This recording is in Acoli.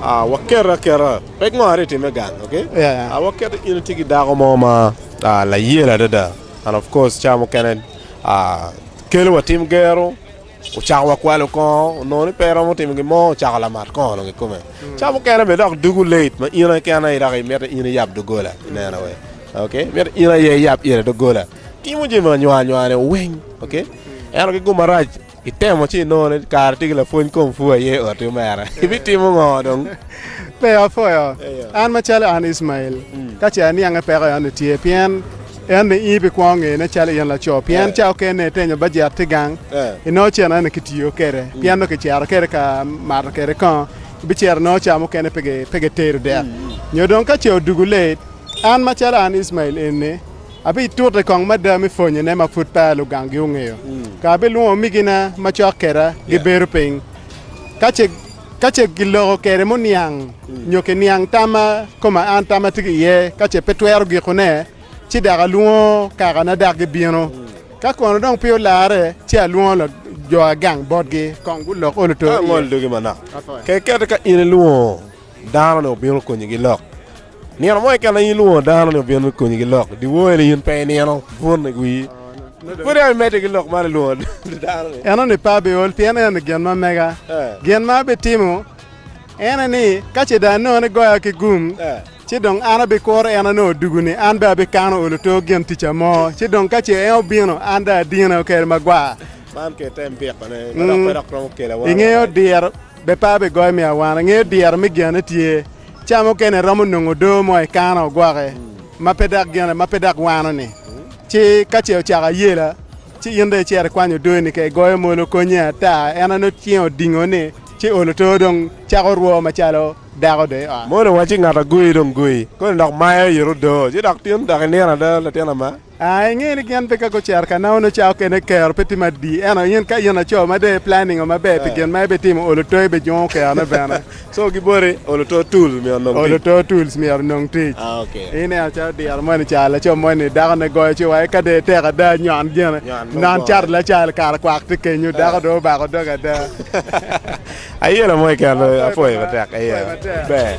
Waket aketa, pek ngo atye time gang ok waket in itye ki dako mo ma layel adada and of course cawa mukene kelo wa tim gero ocako wa kwalo kongo onongo ni pe iromo timo gin mo ocako lamat kongo dong kikome cawa mukene bene dok dugu late ma in aye kene dok imito in aye iyab dogola ineno wee ok imito in aye iyab ite dogola timo jami anywa anywa ne weng ok ento ki gum marac Itemo ci inongo ni kara tye ki lapwony komfu aye i oti omera, ibitimo ngo dong? Pe, apwoyo. An macalo an Icmael, ka ce aniange peko en ni tye, pien en ni in ibikwongo ngene calo in laco, pien ca okene itenyo bajet tye gang, inongo cen eno kitiyo kede, pien nongo kicero kede ka mato kede kongo, ibicero inongo ca mukene pe gitedo dek, nyo dong ka ce odugu late, an macalo an Icmael eni. Abitute kong mada me pwonyone ma pud peya lugangi ongeyo, ka abilwongo omigina macok keda gibedo piny, ka ce giloko kede muniang nyo kiniang tamma koma an tam atye ki iye, ka ce pe twero gikone, ci dok alwongo kakana dok gibino, ka kono dong pe olarre, ci alwongo jo agang botgi kong gulok olo to iye. Ka angolo dogi manok, ka kiketo ka in ilwongo dano-ni obino konyi gilok. Nino mo keken aye ilwongo dano ni obino me konyi ki lok dyewor-ni, in pe inino bun i wii, pwod yam imedde ki lok man ilwongo dano ni. Enoni pe abiol pien enoni gin ma mega. Gin ma abitimo ene ni, ka ce dong anongo ni goya ki gum, ci dong an abikuro en anongo odugu-ni, an bene abikano olo to gin tica mo, ci dong ka ce en obino, an dong adine okel magwar. Ingeyo diro, be pe abigoyo me awana, ingeyo diro me genne tye. Ca mukene romo nongo odoo mo i kana ogwoke ma pe dok gene, ma pe dok wano-ni. Ci ka ce ocako ayela, ci in dong icito ikwanyo odoo-ni ka igoyo molo konye ata. En onongo cinge odingo ni, ci olo too dong cako rwo macalo dako dong i ot. Molo wacci ngat agoyi dong goyi koni dok mayo ite odoo ci dok tin dok inino ada latin ama. A Ingeyo ni gin pe ka gucero ka nawo nongo cawa okene kero pe tye madi. Ento in ka in laco ma dong i planning o maber pi gin ma ibitimo, olo too ibi jungo kerone bene. So giboti olo too tools myero onong tic. Olo too tools myero onong tic. Ah ok. Ineno calo dyere moni ca laco moni dako ne goyo ci wa ka dong itek ada nyon gene. Nyon nongo Non cato goyo. lacal kara kwak tye kenyo dako dong obako doge ada. Ayelo mo iket lweny apwoyo matek aye ber.